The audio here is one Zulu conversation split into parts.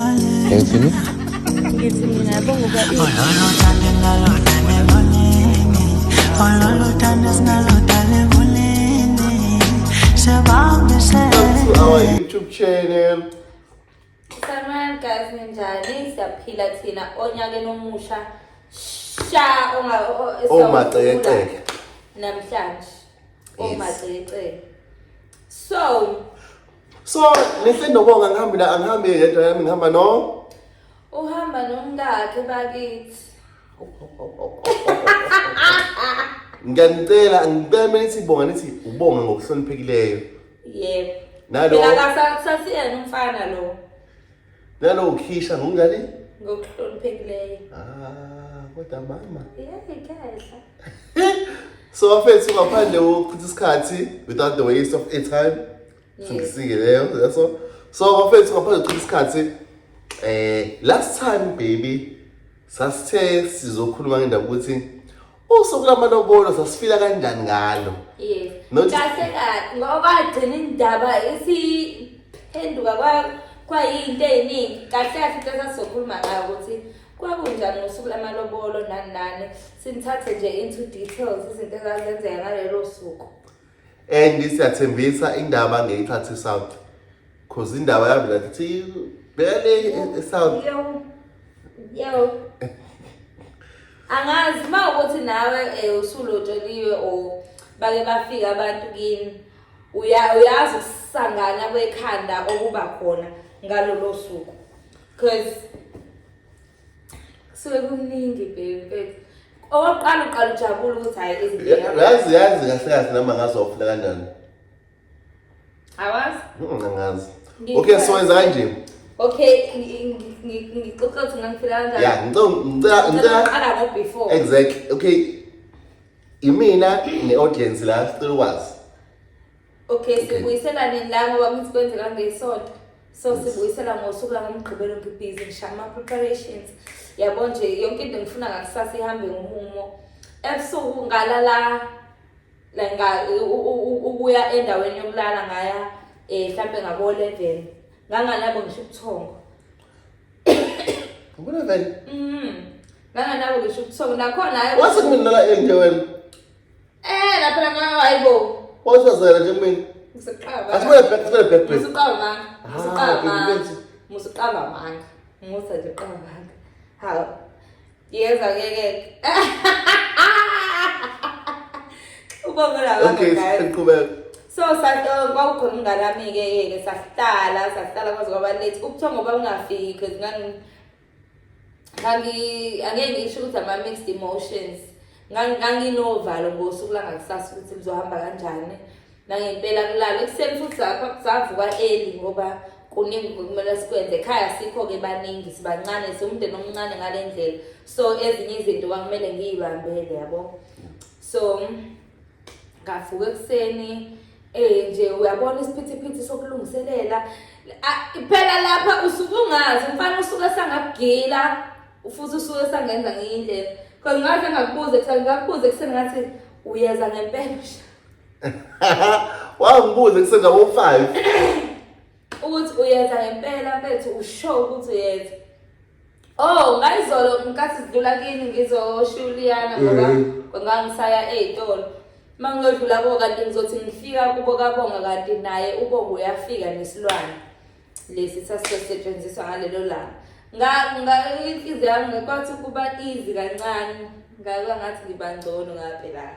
Hepsini. Our YouTube channel. Saman guys ninjani siyaphila thina onyakeni omusha sha onga omaceceke namhlanje omaceceke so So ngihle nobonga ngihambi la angihambi yedwa yami ngihamba no. Uhamba nomkakhe bakithi. Ngiyanicela ngicela nithi bonga nithi ubonga ngokuhloniphekileyo. Yebo. Nalo. Mina kasasiyena umfana lo. Nanokukhishwa ngokunjani? Ngokuhloniphekileyo. Ah, kodwa mama. Yebo, ikhehla. So bafethu ngaphandle kokuchitha isikhathi without the waste of airtime. Singisike leyo, that's all. So bafethu ngaphandle kokuchitha isikhathi eh last time baby sasithe sizokhuluma ngendaba ukuthi Usuku lamalobolo sasifila kanjani ngalo? Yes. Not- Kahle kahle ngoba gcina indaba isiphenduka kwa kwayinto eziningi. Kahle kahle into esasokhuluma ngayo ukuthi kwakunjani ngosuku lamalobolo nani nani. Sinithathe nje into details izinto ezazenzeka ngalelo suku. and siyathembisa indaba ngeyithatha eSouth cause indaba yami ngathi bele eSouth yo angazi uma ukuthi nawe eh, usulotsheliwe or bake bafika abantu kini uyazi ukusangana kwekhanda okuba khona ngalolo suku because kusuke kumningi baby okokuqala uqala ujabula ukuthi hhayi izinyazi yazi kahle kahle noma ngazi wawufuna kanjani awazi angazi okay so wenza kanje okay ngixoxa ukuthi ngangifila kanjani ya ngicela ngicela qala ngo before exactly okay imina ne audience la sicela ukwazi Okay, sibuyisela nini la ngoba ngithi kwenzeka ngesonto. So sibuyisela ngosuku la ngomgqibelo ngibhizi ngisha ama preparations. Yabo nje yonke into ngifuna ngakusasa ihambe ngomumo. Ebusuku ngalala la nga ukuya endaweni yokulala ngaya eh mhlambe ngabo 11. Nganganabo ngisho ubuthongo. Ubu 11. Mhm. Nganganabo ngisho ubuthongo nakhona hayi. Wase kunilala endaweni Eh lapha la ngayo hayibo. Wawusazela nje mina. Ngiseqaba. Asibele back, asibele back. Ngiseqaba manga. Ngiseqaba manga. Ngiseqaba manga. Musa nje qaba manga. Hawu. Yeza ke ke. Ubonga la baba. Okay, siqhubeka. so kwakukhona umngane wami-ke yeke sahlala sahlala kwaze kwaba late ukuthiwa ngoba ungafiki because Kangi angeke ngisho ukuthi ama mixed emotions. Nganginovalo ngosuku langakusasa ukuthi lizohamba kanjani. Nangempela kulala ekuseni futhi lapha kusavuka early ngoba kuningi kumele sikwenze ekhaya sikho ke baningi sibancane siwumndeni omncane ngale ndlela so ezinye izinto kwakumele ngiyibambele yabo so ngavuka ekuseni eh nje uyabona isiphithiphithi sokulungiselela phela lapha usuke ungazi mfana usuke sangakugila futhi usuke sangenza ngiyindlela kodwa ngathi ngakubuze kuthiwa ngakubuze kuseni ngathi uyeza ngempela wawu ngibuze kuseni ngabo 5 ukuthi uyenza ngempela mfethu usho ukuthi uyenza oh ngayizolo ngikathi sidlula kini ngizoshiya uliyana ngoba ngangisaya ey'tolo uma ngiyodlula kubo kanti ngizothi ngifika kubo kabonga kanti naye ubonga uyafika nesilwane lesi sasizosetshenziswa ngalelo langa inhliziyo yami ngikwathi ukuba easy kancane ngaba ngathi ngiba ngcono ngaphelana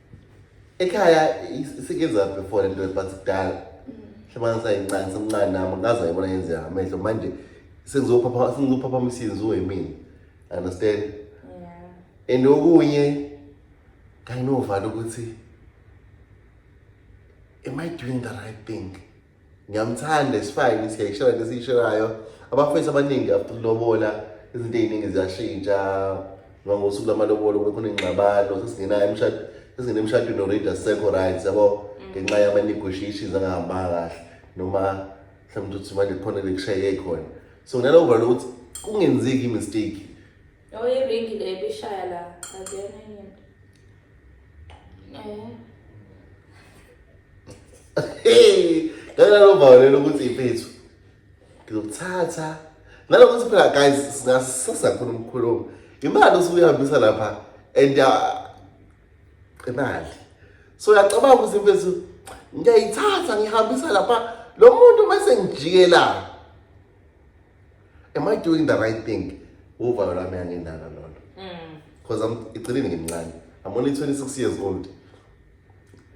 ekhaya sikenzaphi for lento but kudala hlobana sayincane semncane nami ngaze ayibona yenzeka amehlo manje sengizophapha sengizophapha umsizi wemini understand yeah and okunye kayinovala ukuthi am i doing the right thing ngiyamthanda isifayini siyayishela into esiyishelayo abafowethu abaningi after lobola izinto ey'ningi ziyashintsha ngoba ngosuku lamalobolo bekhona ingxabano sesingena emshado sesingena emshadweni already asekho right yabo mm. ngenxa yama-negotiations angahambanga kahle noma mhlawumbe ukuthi manje khona lekushayeke khona so nginalovo lokuthi kungenzeki i-mistake oyeringi le bishaya la akuyona into Hey, ngeke lobawulela ukuthi impethu. Ngizokuthatha. Nalokuthi phela guys singasisa khona umkhulumo. Imali usuyihambisa lapha and uh, imali. So uyacabanga ukuthi impethu ngiyayithatha ngihambisa lapha lo muntu mase ngijikela. am i doing the right thing uvalo lwami anginalo lolo because mm. i'm iceleni ngimncane i'm only 26 years old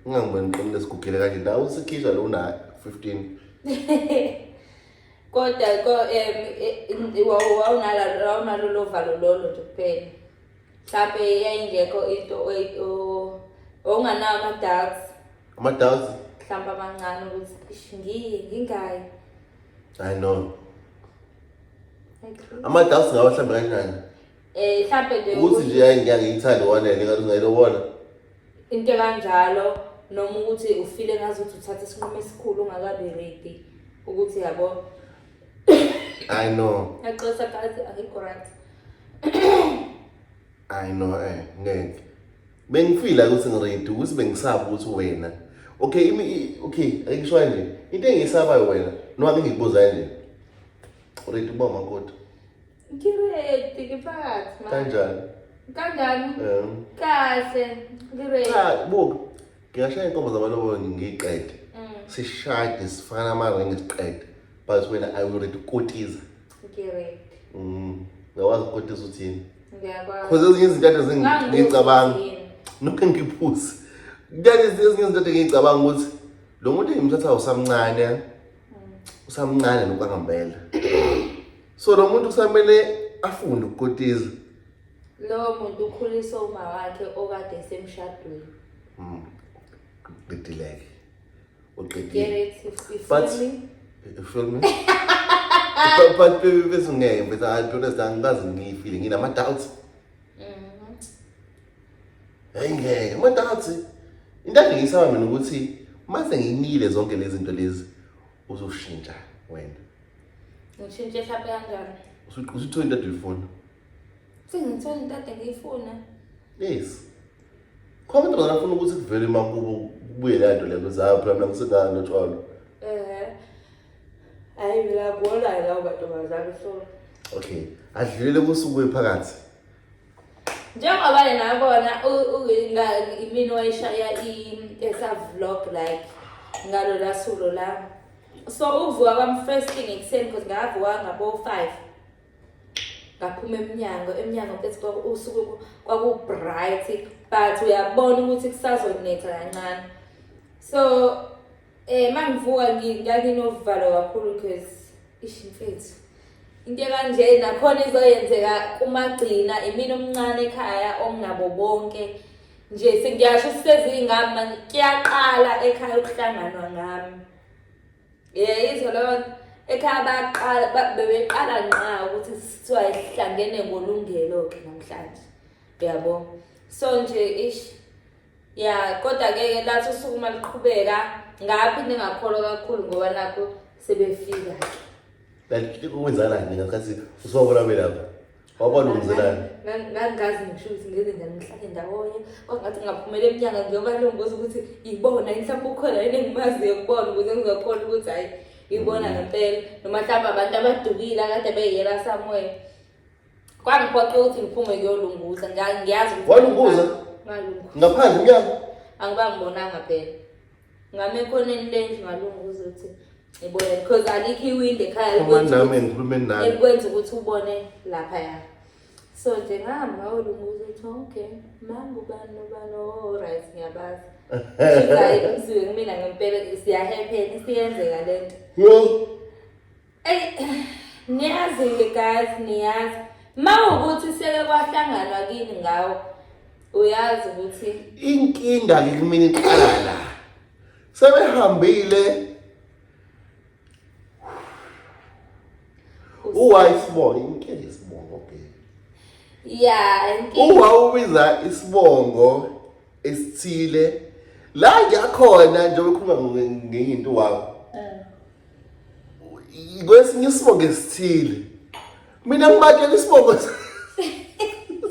ungangiboni ngiqinile esigugile kanje ndawo usekhishwa lo una 15 kodwa ko um wawunalo lo valo lolo nje kuphela mhlawumbe yayingekho into owunganawo ama-doubts ama-doubts mhlawumbe amancane ukuthi ngiye ngingayi I know. Ama doubts ngawa hlambe kanjani? Eh hlambe nje ukuthi nje hayi ngeke ngithande wona le ngathi ngayilo wona. Into kanjalo noma ukuthi ufile ngazi ukuthi uthatha isinqumo esikhulu ungakabi ready ukuthi yabo I know. Yaxosa kazi akikho right. I know eh ngeke. Bengifila ukuthi ngiready ukuthi bengisaba ukuthi wena. Okay imi okay ayisho kanje. Into engisabayo wena noma ngikubuza kanje. Ready uba makoti. Ngiready ngiphathi manje. Kanjani? Kanjani? Eh. Kahle. Ngiready. Cha buka. Ngiyashaya inkomo zamalobolo ngiqede. Mm. Sishade sifana ama ring siqede. But wena I will ready kotiza. Ngired. Mm. Ngakwazi ukukotisa uthini? Ngiyakwazi. Cause ezinye izinto ade zingicabanga. Nokho ngiphuzi. Kuyale ezinye izinto ade ngicabanga ukuthi lo muntu engimthatha usamncane. Mm. Usamncane lokho angambela. So lo muntu kusamele afunde ukukotiza. Lowo muntu ukhulisa uma wakhe okade semshadweni. Mm. Bidileke. uqedile but you feel me but but baby bese ngeke but i don't understand ngazi ngiyifile ngina ama doubts mhm. hey ngeke ama doubts into engiyisaba mina ukuthi mase nginile zonke lezi zinto lezi uzoshintsha wena ngitshintshe mhlawumbe kanjani usuthi into edifona Sengithola into ade ngiyifuna. Yes. Khona into ngafuna ukuthi kuvele makubo kubuye le nto leyo zayo phela mina ngisengane notshwalo. Eh. Hayi mina gola la ubatomazana so. Okay. Adlulele kusuku ephakathi. Njengoba yena yabona imini wayishaya esa vlog like ngalo la sulo la. So uvuka kwam first thing ekuseni because ngavuka ngabo 5. ngaphuma emnyango emnyango mfethu kwakusuku kwaku-bright but uyabona ukuthi kusazonetha kancane so eh mangivuka nganginovalo kakhulu because ish mfethu into kanje nakhona izoyenzeka kumagcina imina omncane ekhaya onginabo bonke nje sengiyasho sisezingami kuyaqala ekhaya ukuhlanganwa ngami yeyizwa leyo nto ekhaya baqala bebeqala nqa ukuthi kuthiwa ihlangene ngolungelo-ke namhlanje uyabo so nje ish ya kodwa-ke ke lathi usuku uma liqhubeka ngaphi ningakholwa kakhulu ngoba nakho sebefika-ke like kwenzakala nini ngasikhathi usubabona belapha wabona umzelani ngangazi ngisho ukuthi ngeke ngihlale ndawonye kwangathi ngaphumela emnyanga ngiyoba lombuza ukuthi ibona yini mhlawumbe ukhona yini engimaziyo kubona ukuze ngizokhona ukuthi hhayi ibona ngempela noma mhlawumbe abantu abadukile akade beyela somewhere kwangiphoqa ukuthi ngiphume kuyolunguza ngiyazi ukuthi walunguza ngalunguza ngaphandle umnyango angiba ngibonanga phela ngame ekhoneni lendlu ngalunguza ukuthi ngibone because alikho iwindi ekhaya Uma nami ngikhulume nani. elikwenza ukuthi ubone lapha ya so nje ngahamba ngawolunguza ukuthi okay manga ubani nobani oright oh, ngiyabazi shikayi umsiwe kumina ngempela siyahepheni siyenzeka le nto Yo, Niyazi-ke guys, niyazi. Mawukuthi seke kwahlanganwa kini ngawo. Uyazi ukuthi inkinda ke kumina iqala la. Sebehambile Uwa isibongo inkinda isibongo ke. Yeah, inkinda. Uwa ubiza isibongo esithile la ngiyakhona njengoba ukhuluma ngenye into wawo. kwesinye isibongo esithile mina ngibatshela isibongo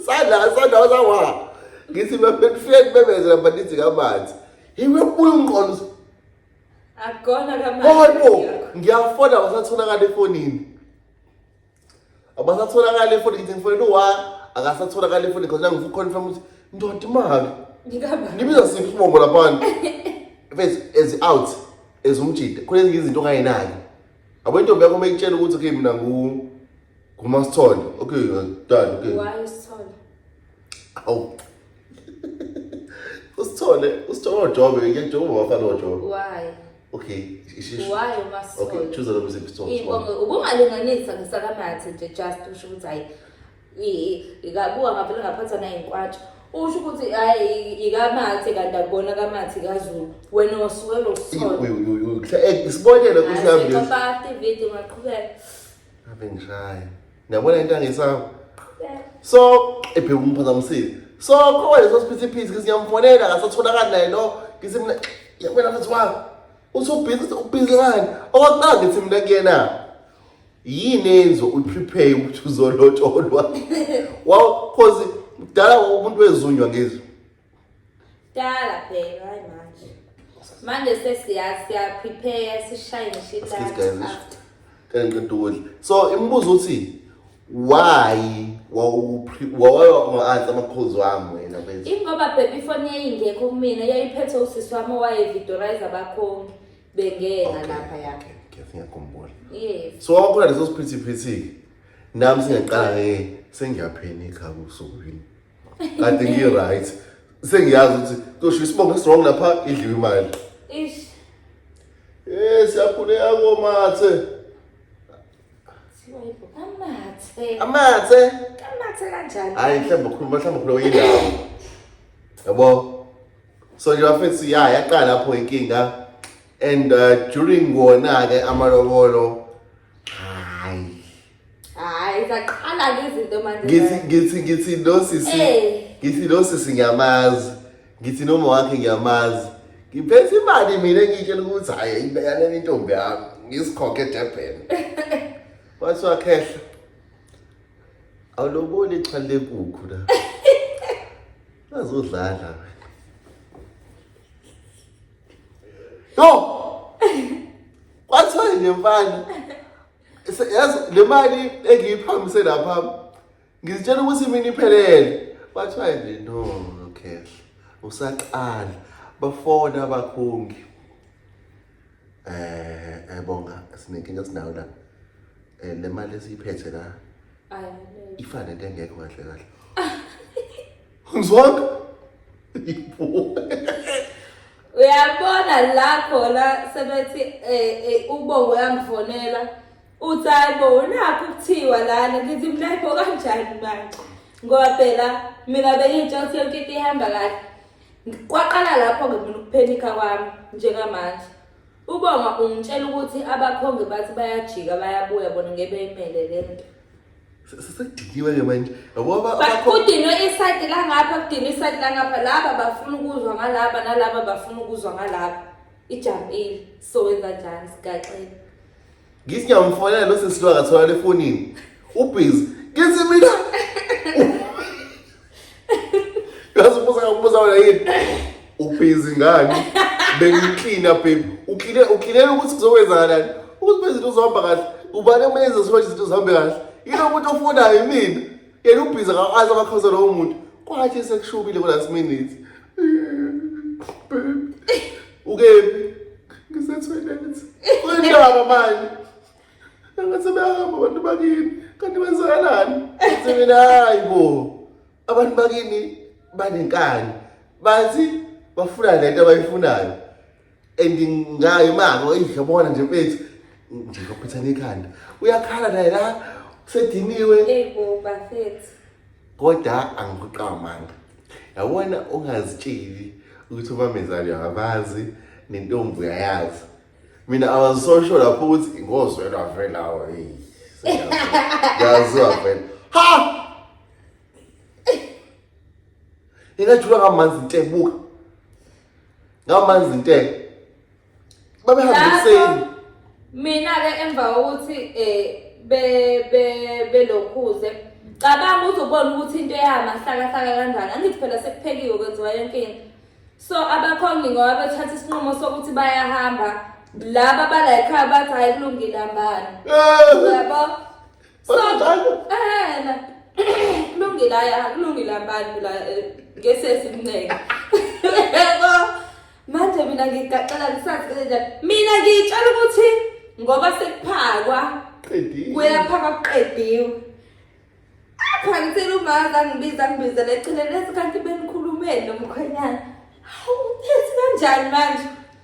sadla sadla sawa ngithi befike bebezela banithi kamanzi yiwe kubuya umqondo akona kamanzi oh ngiyafona wasatholakala efonini abasatholakali efoni ngithi ngifonela uwa akasatholakali efoni because nangifu confirm ukuthi ndoda imali ngikaba nibiza siphi isibongo laphana face as out as umjida khona ezinye izinto ongayenayo abo intombi yakho uma ikutshela ukuthi okay mina ngu ngumasithole okay dad okay why isithole awu usithole usithole ojobe ngiyajoba wafana ojobe why Okay, isisho. Why uma sisolo? Okay, choose the music song. Inkongo ubungalinganisa ngesakamathe nje just usho ukuthi hayi ikabuka ngavele ngaphatha naye inkwatsha usho ukuthi hayi ikamathe kanti akubona kamathi kazulu wena wasuke lo solo isibonelo kusiyambisa Hayi, sipapha, David, ungaqhubeka. ave ngishaya Ngiyabona into angisaba. So ebheka umphazamisile. So khona leso siphithiphithi ngisiyamfonela ngasatholakala naye lo ngithi mina yabona futhi wami usubhizi ubhizi ngani okokuqala ngithi mina kuyena yini enzo uprepare ukuthi uzolotsholwa wow cause kudala umuntu wezunywa ngizwe Dala bheka hayi manje. Manje sesiyazi siya prepare sishaye ngisho Excuse guys, ilanga. ngisho. Kanye ngiqeda ukudla. So imibuzo uthi why wawanga-answer amakhozi wami wena mfethu? Ingoba baby phone yayingekho kumina yayiphethwe usisi wami owayevidorize abakhongi bengena Okay, lapha ya. okay, okay, I think ngiyakhumbula. Yes. So wakhona leso siphithiphithi nami singaqala ngeke sengiyaphenikha kusuku yini. kade ngi-right sengiyazi ukuthi tosho isibongo esirong lapha idliwe imali ish Eh siyakhuleka komathe. siwayibo kamathe Amathe. kamathe kanjani Hayi mhlawumbe ukhuluma mhlawumbe ukhuluma indawo. Yabo. So nje bafethu ya yaqala lapho inkinga and uh, during wona ke amalobolo Hayi zaqala ke izinto manje. Ngithi ngithi ngithi lo sisi ngithi lo sisi ngiyamazi. Ngithi noma wakhe ngiyamazi. Ngiphethe imali mina ngitshela ukuthi hayi ibeyane intombi yami ngisikhokhe eDurban. Wathi wakhehla. Awuloboni ixhali lenkukhu la. Azodlala. Yo! Kwathi wena mfana yazi le mali engiyiphamise lapha ngizitshela ukuthi mina iphelele bathiwa nje no no cash usaqala bafona abakhungi eh ebonga eh, sinenkinga sinayo la eh, le mali esiyiphethe la ifana nento engekho kahle kahle ngizwanga uyabona la khona sebethi um ubongo uyamfonela uthi hayi bo nakho kuthiwa lana ngithi mina hayi bo kanjani manje ngoba phela mina bengitsho ukuthi yonke into ihamba kahle kwaqala lapho-ke mina ukuphenikha kwami njengamanje Ubonga ungitshela ukuthi abakhongi bathi bayajika bayabuya bona ngeke beyimele le nto. Sesediniwe ke manje. Yabo aba- Ba- abakho- Kudinwe isayidi langapha kudinwe isayidi langapha laba bafuna ukuzwa ngalaba nalaba bafuna ukuzwa ngalaba. Ijampile sowenza njani sigaxile. Ngithi ngiyamfonela lo sisi lo akatholakala efonini. Ubhizi. Ngithi mina. Yazi ubuza ngokubuza wena yini? Ubhizi ngani? Bengiklina baby. Ukline uklinela ukuthi kuzokwenzakalani. Ukuthi bezinto uzohamba kahle. Ubani omenza ukuthi izinto zihambe kahle? Yilo umuntu ofunayo mina. yena ubhizi akazi abakhoza lowo muntu kwathi esekushubile kulast minute ukephi ngisetoilet kuyindaba manje angathi sebeyahamba abantu bakini kanti kwenzakalani semina hayi bo abantu bakini banenkani bathi bafuna lento abayifunayo and ngayo imako idlobona nje mfethu nje kwaphethana ikhanda uyakhala naye la usediniwe hey bo bafethu kodwa angikuqamanga yabona ungazitsheli ukuthi ubamezali uyabazi nentombi uyayazi mina i was so sure lapho ukuthi ngozwela vela awo hey ngazwa vela ha ingajula kamanzi ntebuka ngamanzi nte babehamba ekuseni mina ke emva kokuthi eh be be belokhuze cabanga uzobona ukuthi into eyama hlakahlaka kanjani angithi phela sekuphekiwe kwenziwa yonke into so abakhongi ngoba bethatha isinqumo sokuthi bayahamba laba bala ekhaya bathi hayi kulungile hambani eh. yabo kulungile aya kulungile abantu la eh, ngesesi mnceke yebo manje mina ngigaxela ngisazi kanjani mina ngitshela ukuthi ngoba sekuphakwa qediwe kuyaphakwa kuqediwe apha ngitshela umaza ngibiza ngibiza leceleni esikhathi benikhulumeni nomkhwenyana hawu uthi kanjani manje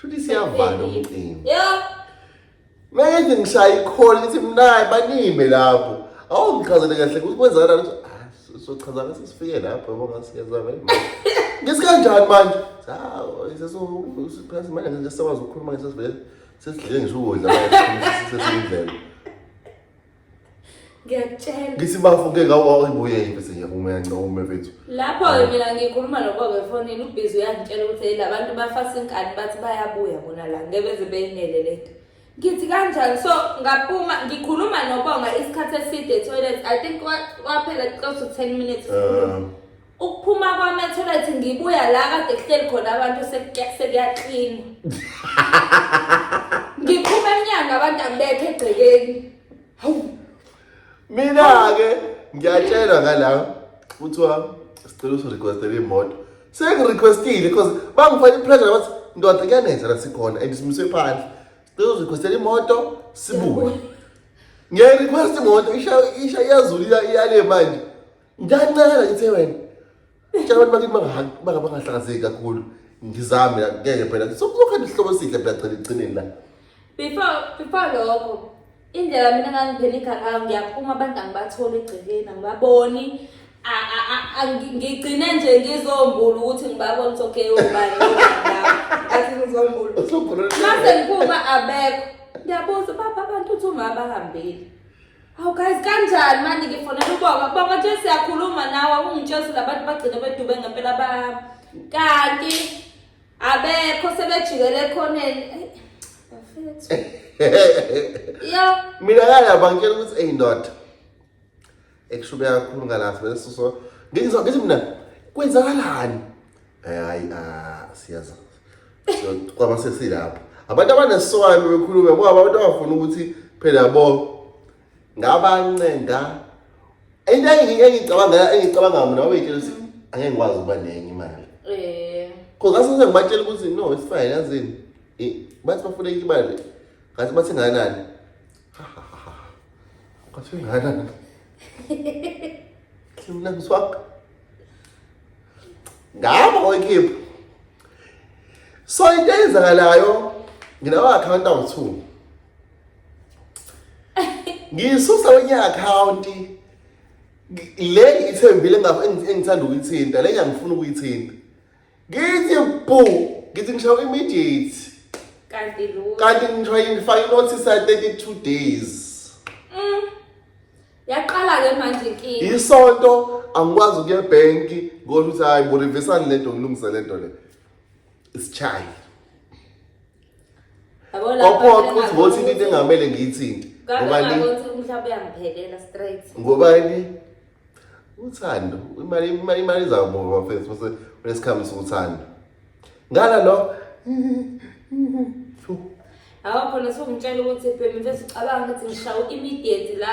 Shuthi siyavala umcimbi. Yep. Manje ngishaye ikholi lithi mnayi banime lapho. Awungichazele kahle ukuthi kwenzakala ukuthi ah sochaza ngase sifike lapho yabo ngasiyeza vele. Ngisikanjani manje? Hawu seso siphasi manje ngesakwazi ukukhuluma ngesivele sesidlile ngisho ukudla manje sesindlela. ngiyakutshela ngithi bafo ke ngawuyibuye yini senye uma yancome bethu lapho ke mina ngikhuluma nobobe efonini ubhizi uyangitshela ukuthi hey labantu bafasa inkani bathi bayabuya bona la ngebeze beyinele lento ngithi kanjani so ngaphuma ngikhuluma nobonga isikhathi eside toilet i think kwaphela close to 10 minutes um, Ukuphuma kwami athola ukuthi ngibuya la kade kuhleli khona abantu sekuyaklina. Ngiphuma emnyango abantu angibethe egcekeni. Hawu. Mina ke ngiyatshelwa ngala kuthiwa sicela usirequestele imoto. Sengirequestile because bangifaka ipressure bathi ndoda kuyanenza la sikhona and simise phandle. Sicela usirequestele imoto sibuye. Ngiyayirequest imoto isha isha iyazulila iyale manje. ngiyancela ngithe wena tshela abantu bakithi bangaha- banga- bangahlakazeki kakhulu ngizame la, ngeke phela sokuzokhanda isihlobo esihle phela gcina ekugcineni la before before lokho indlela mina ngangiphela igalayo ngiyaphuma abantu angibatholi egcekeni angibaboni A- a- a- a- ngi- ngigcine nje ngizombulu ukuthi ngibabone ukuthi okay ubani athi ngizombulu Usukhululekile. mase ngiphuma abekho ngiyabuza baba abantu uthi uma bahambile Hawu guys kanjani manje ngifonela ubonga kubonga nje siyakhuluma nawe ungitshela labantu bagcine bedube ngempela ba kanti abekho sebejikele ekhoneni yo mina kala bangitshela ukuthi eyi ndoda ekushube kakhulu ngalapha leso so ngithi mina kwenzakalani Eh, hayi ah, siyazazi So, kwaba sesilapho abantu abaneswayo bekhulume ngoba abantu abafuna ukuthi phela yabo ngabancenga into engi- engicabanga engicabanga mina wabeyitshela ukuthi angeke ngikwazi ukuba nenye imali Eh, Cause ngathi senze ngibatshela ukuthi no it's fine yazini. Eh, Bathi bafuna enye imali. Ngathi bathi nganani? Ha, ha, ha, ha. Ngathi nganani? Kimna mswaka. ngabo oyikhipha so into eyenzakalayo nginawo account awu-two ngiyisusa kwenye account le ngiyithembile engithanda ukuyithinta le ngiyangifuna ukuyithinta ngithi bhu ngithi ngishawa immediate kanti lutho kanti ngithiwa ngifake inotice ya 32 days Mm. yaqala-ke manje inkinga isonto angikwazi ukuya ebhenki ngoba ukuthi hayi ngorivisani le nto ngilungise le nto le isitshayi Yabo lapha Opo vele ukuthi ngothi into ngakuthi- engamele ngiyithinte. Ngabe Ngoba ni ngakuthi umhlaba uyangiphelela straight. ngoba ni uthando imali imali imali izakubova bafethu bese unesikhamu sokuthanda. Ngala lo Yabo khona sokungitshela ukuthi phela mfethu ucabanga ukuthi ngishawa immediate la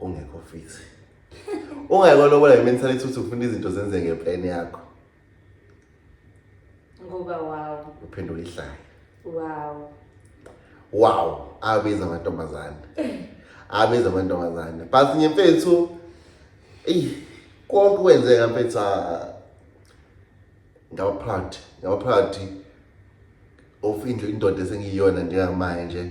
ungekho fit ungayikho lobola ngementality ukuthi ufuna izinto zenze ngeplan yakho ngoba wow uphendula ihlaya wow wow abiza amantombazane abiza amantombazane but nye mfethu eyi konke kwenzeka mfethu ah, ngaba proud ngaba proud of into indoda esengiyiyona njengamanje nje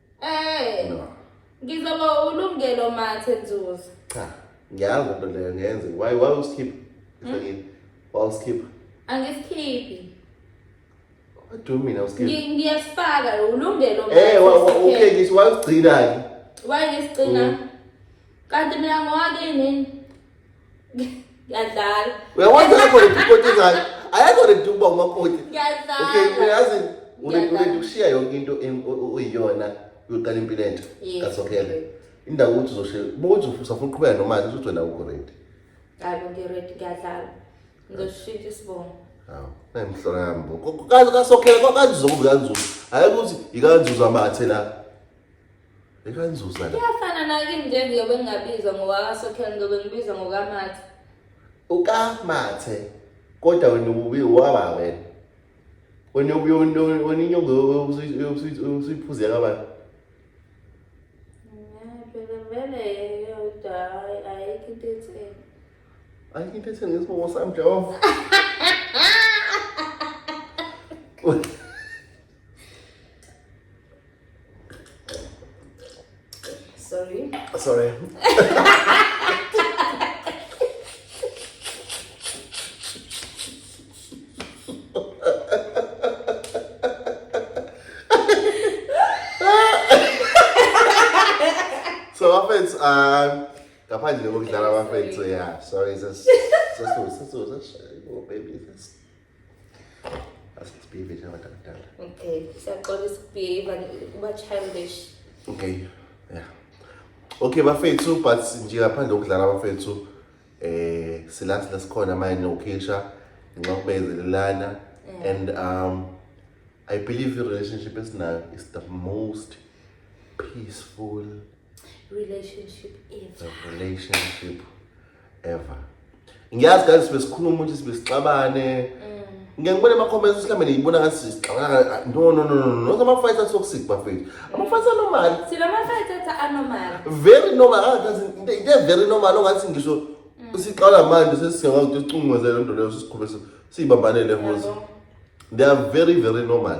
Eh. No. Ngizoba ulungelo mathe nzuzo. Cha. Ngiyazi into leyo ngenze. Why why usikhipha? Ngifakile. Hmm? Why usikhipha? Angisikhiphi. What do you mean usikhipha? Ngiyasifaka ulungelo mathe. Eh, okay, ngisi why usigcina ke? Why ngisigcina? Hmm. Kanti mina ngowakini. Ngiyadlala. Uyakwazi ayakho redi ukoti engayo. Ayakho redi ukuba umakoti. Okay, Ngiyadlala. uyazi uredi Ngiyadlala. uredi ukushiya yonke into em- o- o- oyiyona uyoqala impilo entsha. Yes. Kasokhela. Indawo ukuthi uzoshe bokuthi usafuna uqhubeka nomali ukuthi wena ukho redi. Hayi bo, ngiready, ngiyadlala. Ngizoshintsha isibongo. Hawu, ayimhlola yami bo. Ko- ko- Kazi kasokhela ko- kanzuzu kanzuzu. Hayi ukuthi ikanzuzu amathe la. Ekanzuza la. Kuyafana nakini nje ngiyobe ngingabizwa ngowakasokhela ngiyobe ngibizwa ngokamathi. Ukamathe kodwa wena ububi waba wena. Wena ubuye wena inyongo usuyiphuzela abantu. Ngeke vele yodwa ayikho into etheni. Ayikho into etheni ngesibongo sami Jehova. Sorry. Sorry. so bafethu um ngaphandle kokudlala bafethu ya sorry sesisusa sisusa baby asibhive njengabantu abadala okay siyaxolisa ukubhiva kuba childish okay yeah okay bafethu but nje ngaphandle kokudlala bafethu eh silathi lasikhona manje nokhisha ngenxa yokubezelelana and um i believe i relationship esinayo is the most peaceful relationship ever relationship ever ngiyazi kanti sibe sikhuluma ukuthi sibe sixabane mm. ngeke ngibone ama-comments mhlawumbe niyibona ngathi sixabana no no no no no ama-fight atoxic bafethu ama-fight anormal silama-fight athi anormal very normal angathi into very normal ongathi ngisho mm. siqala manje sesingakwazi ukuthi sicungumeze le nto leyo sisikhube siyibambanele hozi they are very very normal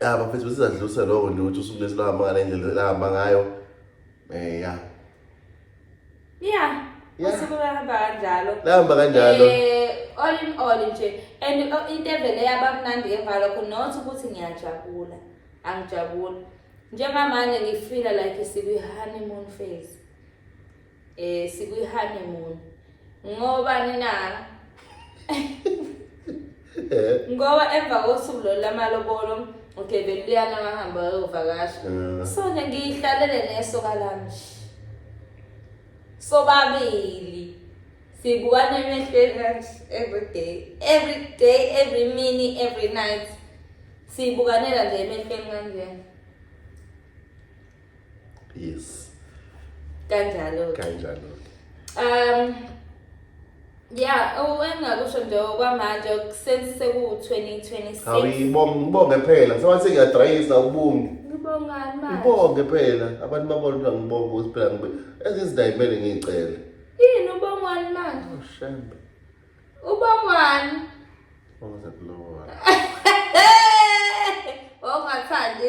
ya bafethu sizadluse lokho nje ukuthi usuku lesi lwahamba ngale ndlela elahamba ngayo um ya ya usuku lwahamba kanjalo lahamba kanjalo um all in all nje and into evele yaba mnandi emva lokho not ukuthi ngiyajabula angijabuli njengamanje ngifila like sikwi-honeymoon phase Eh sikwi honeymoon. Ngoba nina Eh. Ngoba emva kosuku lo lamalobolo okay beluyana ngahamba ayovakasha. Eh. So nje ngiyihlalele neso kalami. Sobabili. Sibukana emehlweni kanje every day. Every day, every minute, every night. Sibukanela nje emehlweni kanjena. yes kanjalo kanjalo um Yeah, owengakusho nje okwamanje sense seku-2026. Hawu ibonge ngibonge phela. Sewathi ngiyadrayisa ubungi. Ngibongani manje? Ngibonge phela. Abantu babona ukuthi ngibonge ukuthi phela ngibe ezizidayimele ngicele. Yini ubongwani manje? Oh shembe. Ubongwani? Bonga kulowa. Hey! Ongathandi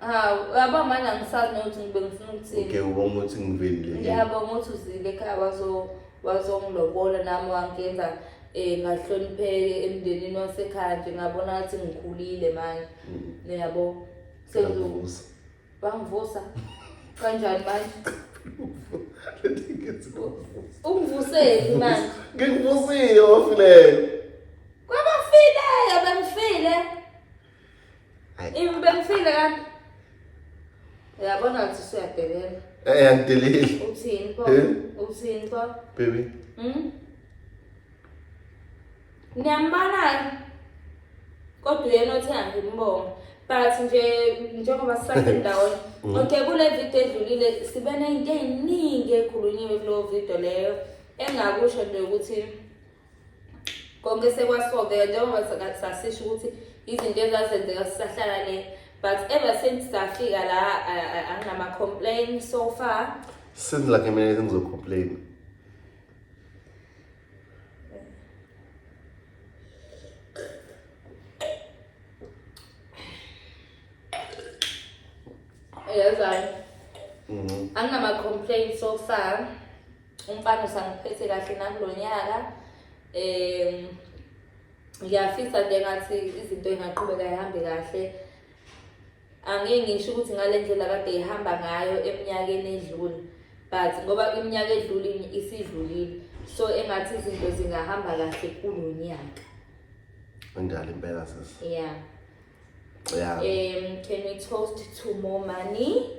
Hawu, uyabona manje angisazi nokuthi ngibe ngifuna ukuthini. Uke ubonga ukuthi ngivelile. Ngiyabonga ukuthi uzile ekhaya wazo wazongilobola nami wangenza eh ngahlonipheke emndenini wasekhaya nje ngabona ukuthi ngikhulile manje. Mm. Niyabo? Sengivusa. Bangivusa. Kanjani manje? Ungivuseli manje. Ngikuvusile ofileyo. Kwabafileyo bengifile. Hayi. Imbekufile kanti. Uyabona ukuthi siyadelela. Eh angideleli. Uthini pho? Eh? Uthini pho? Baby. Hmm? Niyambona kodwa uyena othe angimbonga. But nje njengoba sisasendaweni Mm. okay kule video edlulile sibe nento eziningi ekhulunyiwe kulo video leyo engakusho nje ukuthi konke sekwasolveka njengoba sasisho ukuthi izinto ezazenzeka sisahlala le but ever since safika la anginama-complain so far since like mina ngizocomplain yazani mm-hmm. anginama-complain so far umfana usangiphethe kahle nakulo nyaka um ngiyafisa nje ngathi izinto ingaqhubeka ihambe kahle angeke ngisho ukuthi ngale ndlela kade ihamba ngayo eminyakeni edlule but ngoba iminyaka edlule isidlulile so engathi izinto zingahamba kahle kulo nyaka unjalo impela sisi yeah yeah um can we toast to more money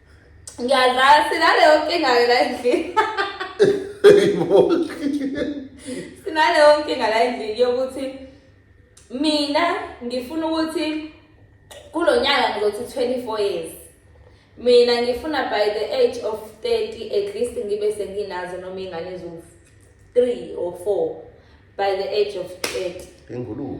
ngiyadlala sinaleyo nkinga-ke la endlini sinaleyo nkinga la endlini yokuthi mina ngifuna ukuthi kulo nyaka ngizothi 24 years mina ngifuna by the age of 30 at least ngibe senginazo noma ingane eziwu-3 or 4 by the age of 30 ingulube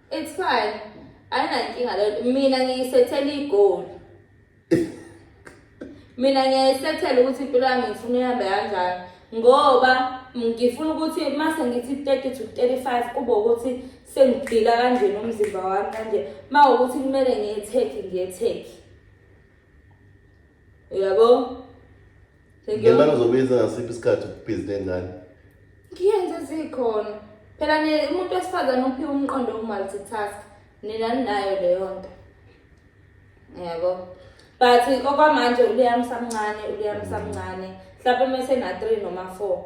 It's fine. Ayinankinga leyo. Mina ngiyisethela igoli. Mina ngiyayisethela ukuthi impilo yami ngifuna ihambe kanjani ngoba ngifuna ukuthi mase ngithi 30 to 35 kube ukuthi sengigila kanjena umzimba wami kanje. Mawukuthi kumele ngiyetheki ngiyetheki. uyabo ngemali uzobiza ngasiphi isikhathi ubhizi nengane ngiyenze zikhona phela umuntu wesifazane uphiwa umqondo woku-multitask nina ninayo leyo nto yabo but okwamanje uliyami samncane uliyami mm. samncane mhlawumpe uma esena-three noma four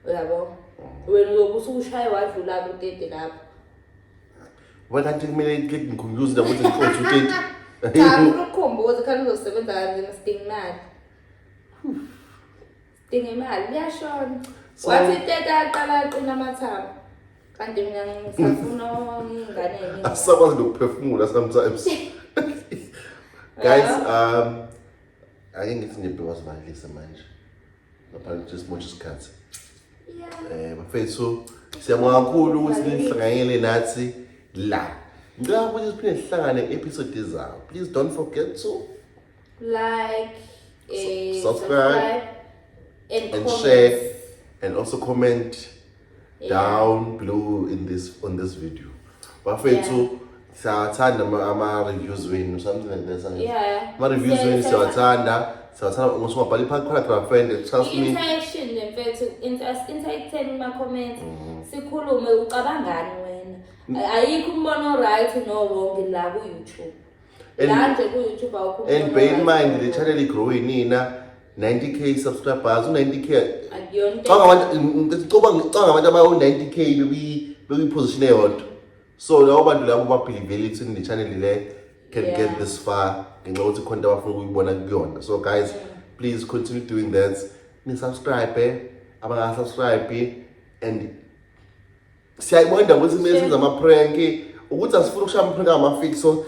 uyabo mm. wena uyobe usukushaye wadlula kutete lapho Ngoba kanti kumele iqede ngikhumbuze nabo ukuthi ngiqothe uteti. Cha ukukhumbuza khani uzosebenza kanzima sidinga imali. Sidinga imali liyashona. So- Wathi iteta aqala aqina amathambo. Kanti mina ngisafuna ingane yami. Asisakwazi nokuphefumula sometimes. Guys, um ake ngithi nje bewasivalelise manje. ngaphandle nje simosha isikhathi eh bafethu siyabonga kakhulu ukuthi nihlanganyele nathi la ngicela ukuthi siphinde sihlangane episode ezayo please don't forget to like eh, subscribe, subscribe and, and share and also comment down below in this on this video bafethu yeah. siyawathanda ama-reviews wenu something like that yeah. ama-reviews wenu siyawathanda siyawathanda ukuthi ungabhala i-paragraph and trust me interaction mfethu interacteni kuma-comments mm. sikhulume ucabangani wena mm. ayikho umbono right no wrong la ku-youtube and bear in mind the channel igrowe nina 90k subscribers u-90k canga abantu abawu-90k bekuyiposition eyodwa so labo bantu labo babhilivele ekutheni le channel le can yeah. get this far ngenxa yokuthi khona into abafuna ukuyibona kuyona so guys yeah. please continue doing that nisubscribe eh? abangasubscribe eh? and siyayibona indawo ukuthi kumele senze amapranki ukuthi asifuni ukushaya amapranki amafiki so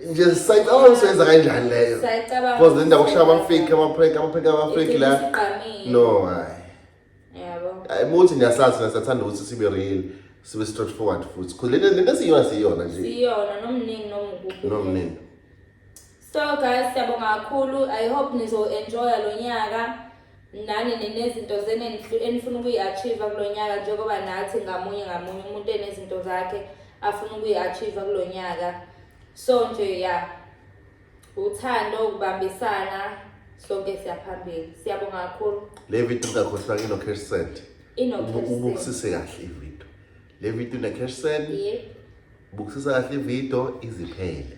nje sisayicabanga ukuthi soyenza kanjani leyo Siyayicabanga because le ndawo ukuthi kushaya amafiki amapranki amapranki amafiki la igcine isiqamile. no hayi Yabo. hayi muthi niyasazi thina siyathanda ukuthi sibe real sibe straight forward futhi because lento lento esiyiyona siyiyona nje Siyona nomningi nomkhulu. nomnini So guys, siyabonga kakhulu. I hope nizo enjoy lo nyaka. nani ninezinto zenu enifuna enifuna ukuyi-achieve-a kulo nyaka njengoba nathi ngamunye ngamunye umuntu enezinto zakhe afuna ukuyi-achieve-a kulo nyaka so nje ya uthando ukubambisana sonke siyaphambili siyabonga kakhulu le video ingakhohlwanga ino-cash send Ino-cash send. ubukisise kahle ivideo le video ine-cash send Yep. bukisisa kahle ivideo iziphele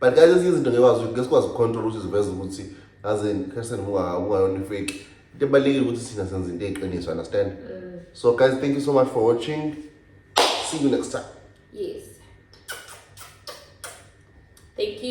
but guys ezinye izinto ngekwazi ukuthi ngesikwazi ukucontrol ukuthi ziveze ukuthi aze person ungayona ifake into ebalulekile ukuthi sina senza into eyiqiniso understand mm. so guys thank you so much for watching see you next time yes thank you